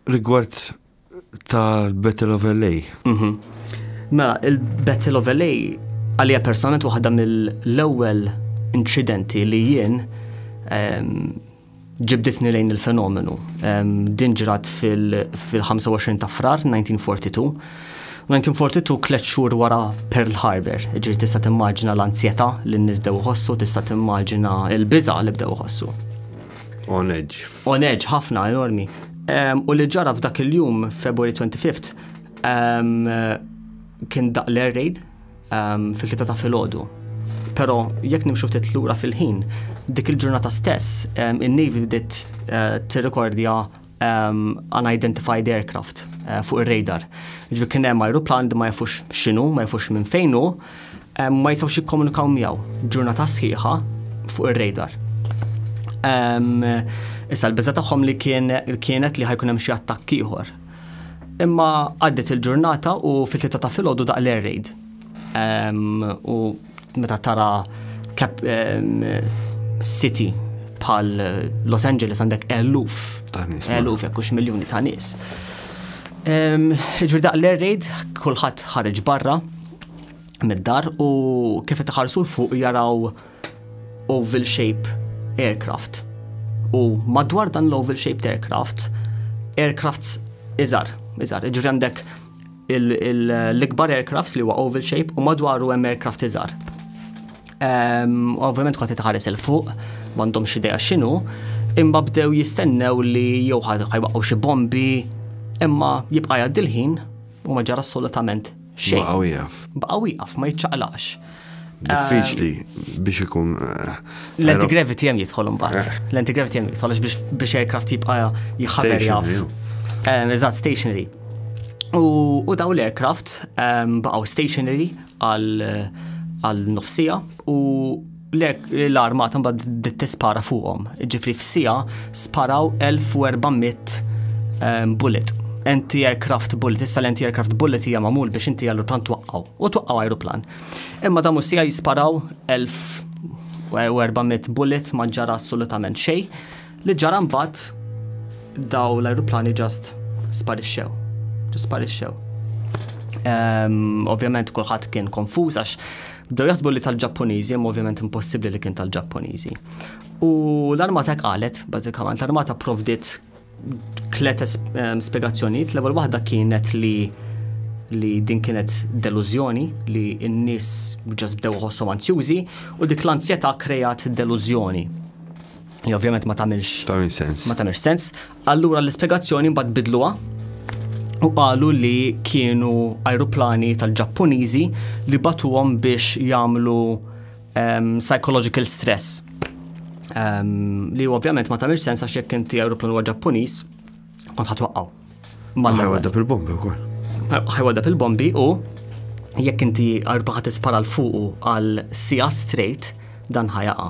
Rigward tal-Battle of LA. Mhm. Mela, il-Battle of LA għalija personalment waħda mill-ewwel inċidenti li jien ehm, ġibditni lejn il-fenomenu. Ehm, din ġrat fil-25 ta' frar 1942. 1942 tliet xhur wara Pearl Harbor, ġiri tista' timmaġina l-ansjetà li n-nies bdew iħossu, tista' timmaġina l-biża' li bdew iħossu. On edge. On edge, ħafna, enormi. Um, u li ġara f'dak il-jum, February 25th, um, kien daq l-air raid um, fil-tita ta' fil-ħodu. Pero, jekk nimxu ftit lura fil-ħin, dik il-ġurnata stess, um, il-Navy bdiet uh, eh, t-rekordja um, unidentified aircraft uh, fuq ir-radar. Ġu kien hemm ajruplan ma jafux x'inhu, ma jafux minn fejn hu, um, ma jistgħux jikkomunikaw miegħu ġurnata sħiħa fuq ir-radar. Um, issa l-biża tagħhom li kien, kienet li ħajkun hemm xi attakk ieħor. Imma għaddet il-ġurnata u fit-tlieta ta' filgħodu daq l-air raid. Um, u Meta tara kap city bħal Los Angeles għandek eluf, eluf jekk hux miljuni ta' nies. Ġifieri daq l-air raid kulħadd ħareġ barra mid-dar u kif qed iħarsu l fuq jaraw oval shape aircraft. U madwar dan l-oval shaped aircraft, aircrafts iżar, iżar, ġifieri għandek l-ikbar aircraft li huwa oval shape u madwaru hemm aircraft iżgħar. Ehm, ovvjament kont tħares il fuq, m'għandhom xi idea x'inhu, imma bdew jistennew li jew ħajbaqgħu xi bombi, imma jibqa' jgħaddi l-ħin u ma ġara assolutament xejn. Baqgħu jaf. Baqgħu jaf ma jiċċaqlax. diffiċli biex ikun. Eh, L-antigravity hemm jidħol imbagħad. Eh. L-antigravity hemm jidħol biex aircraft jibqa' jħaber jaf. Eh, eżatt, stationary. U daw l-aircraft ehm, baqgħu stationary għal nofsija u l-armata mbagħad tispara fuqhom. Ġifri f'sija sparaw 1400 ehm, bullet anti-aircraft bullet, issa l-anti-aircraft bullet hija magħmul biex inti għallu tant twaqqgħu. u twaqqaw ajruplan. Imma damu sija jisparaw 1400 bullet ma ġara assolutament xej li ġara mbagħad daw l-ajruplani ġast sparixxew. Ġast sparixxew. Ehm, ovvjament kulħadd kien konfuż għax bdew jasbu li tal-Ġappuniżi, imma ovvjament impossibbli li kien tal-Ġappuniżi. U l-armata qalet, bażikament, l-armata provdit Tlet ehm, spiegazzjonijiet, l-ewwel waħda kienet li li din kienet delużjoni li n-nies ġas bdew ħossom anzjużi u dik l-anzjetà krejat delużjoni. Li ovvjament ma tagħmilx sens. Ma tagħmilx sens. Allura l-ispjegazzjoni mbagħad bidluha u qalu li kienu ajruplani tal-Ġappuniżi li batuhom biex jagħmlu Um, psychological stress. Um, li ovvjament ma tamilx sens għax jekk inti aeroplan huwa Ġappuniż, kont ħatwaqqaw. Ħajwadda fil-bombi wkoll. Ħajwadda fil-bombi u jekk inti arbaħa tispara l-fuqu għal sija straight dan ħajaqa.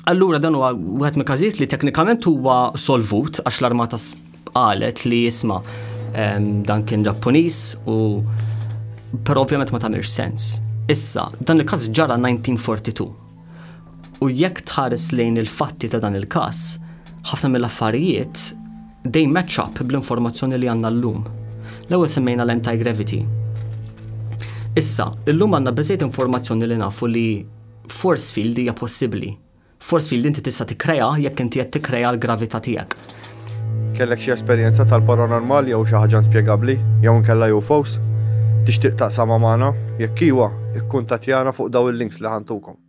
Allura dan huwa wieħed mill każijiet li teknikament huwa solvut għax l-armata Qalet li jisma' dan kien Ġappuniż u però ovvjament ma tagħmilx sens. Issa, dan il-każ ġara 1942. U jekk tħares lejn il-fatti ta' dan il-każ, ħafna mill-affarijiet dej match up bl-informazzjoni li għandna llum. L-ewwel semmejna l-anti-gravity. Issa, illum għandna biżejt informazzjoni li nafu li force field hija possibbli Force field inti tista' tikkreah jekk inti qed tikkrea l-gravità tiegħek. Kellek xi esperjenza tal-paranormal jew xi ħaġa inspjegabbli jew inkella UFOs? Tixtieq taqsamha magħna? Jekk iwa, ikkuntattjana fuq dawn il-links li ħa ntukom.